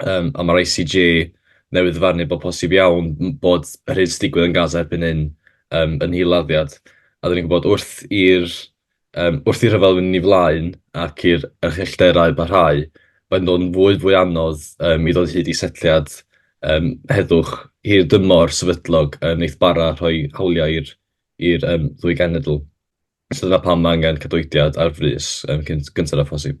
Yym a ma'r ICJ newydd ddyfarnu bod posib iawn bod yr hyn sy'n digwydd yn Gaza erbyn hyn yym yn hil-laddiad, a 'dan ni'n gwybod wrth i'r yym wrth i'r rhyfel fynd yn ei flaen ac i'r uchelderau barhau, mae'n dod yn fwy fwy anodd yym i ddod hyd i setliad yym heddwch hir dymor sefydlog yn neith bara rhoi hawliau i'r i'r yym ddwy genedl. So dyna pam ma' angen cydweithiad ar frys yym cyn gynted â phosib.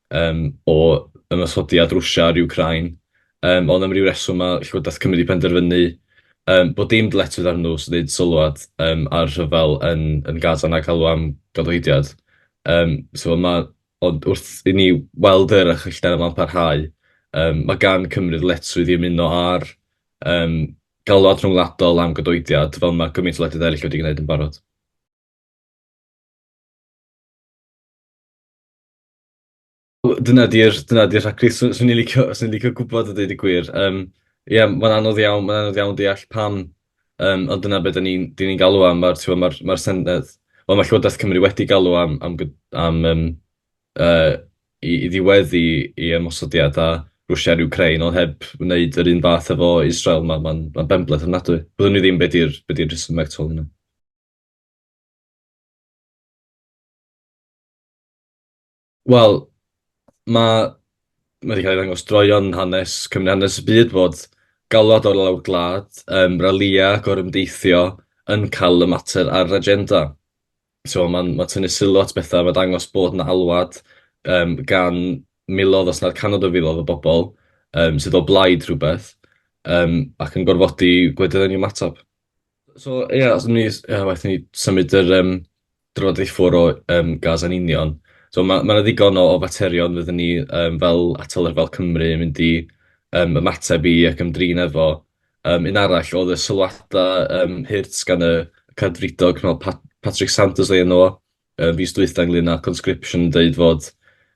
yym o ymosodiad Rwsia ar Wcráin, yym ond am ryw reswm ma' Llywodraeth Cymru 'di penderfynu yym bod dim dyletswydd arnyn nhw os wneud sylwad yym ar rhyfel yn yn Gaza na galw am gadoediad yym so ma' ond wrth i ni weld yr archwilder yma'n parhau yym ma' gan Cymru ddyletswydd i ymuno â'r yym galwad rhyngwladol am gadoediad fel ma' gymaint o wledydd eraill wedi gwneud yn barod. Dyna di'r dyna di'r rhagddi. Swn swn i'n licio swn i'n licio gwbod a deud y gwir. Yym ie mae'n anodd iawn mae'n anodd iawn deall pam yym ond dyna be' 'dan ni'n 'dan ni'n galw am ma'r t'mo' ma'r ma'r Senedd wel ma' Llywodraeth Cymru wedi galw am am g- am yym yy i i ddiweddu 'i ymosodiad ar Rwsia a'r Wcráin ond heb wneud yr un fath efo Israel ma' ma'n ma'n benbleth ofnadwy. Byddwn i ddim be' 'di'r be' 'di'r rhesymeg tu ôl hwnna. Wel, ma' ma' 'di cael ei ddangos droeon hanes Cymru, hanes y byd fod galwad o'r lawr gwlad, yym ralïau, gorymdeithio yn cael y mater ar yr agenda. So ma'n ma'n tynnu sylw at bethau, ma'n dangos bod 'na alwad yym gan miloedd os nad cannoedd o filoedd o bobl yym sydd o blaid rhywbeth yym ac yn gorfodi gwledydd yng ymateb. So ie os o'n ni s- yy waeth i ni symud yr yym drafodaeth ffwrdd o yym Gaza'n union. So ma' ma' 'na ddigon o o faterion fyddwn ni yym fel atal ryfel Cymru yn mynd i yym ymateb i ac ymdrin efo. Yym un arall oedd y sylwadau yym hurt gan y cadfridog fel Pa- Patrick Sanders oedd enw o yy fis dwytha ynglŷn â conscription yn deud fod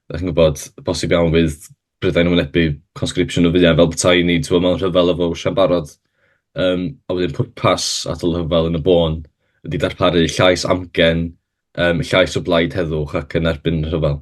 dach chi'n gwbod bosib iawn fydd prydau yn wynebu conscription o fwyaf fel petai ni, timod, mewn rhyfel efo Rwsia'n barod. Yym, a wedyn pwrpas atal y rhyfel yn y bôn ydy darparu llais amgen, yym, llais o blaid heddwch ac yn erbyn y rhyfel.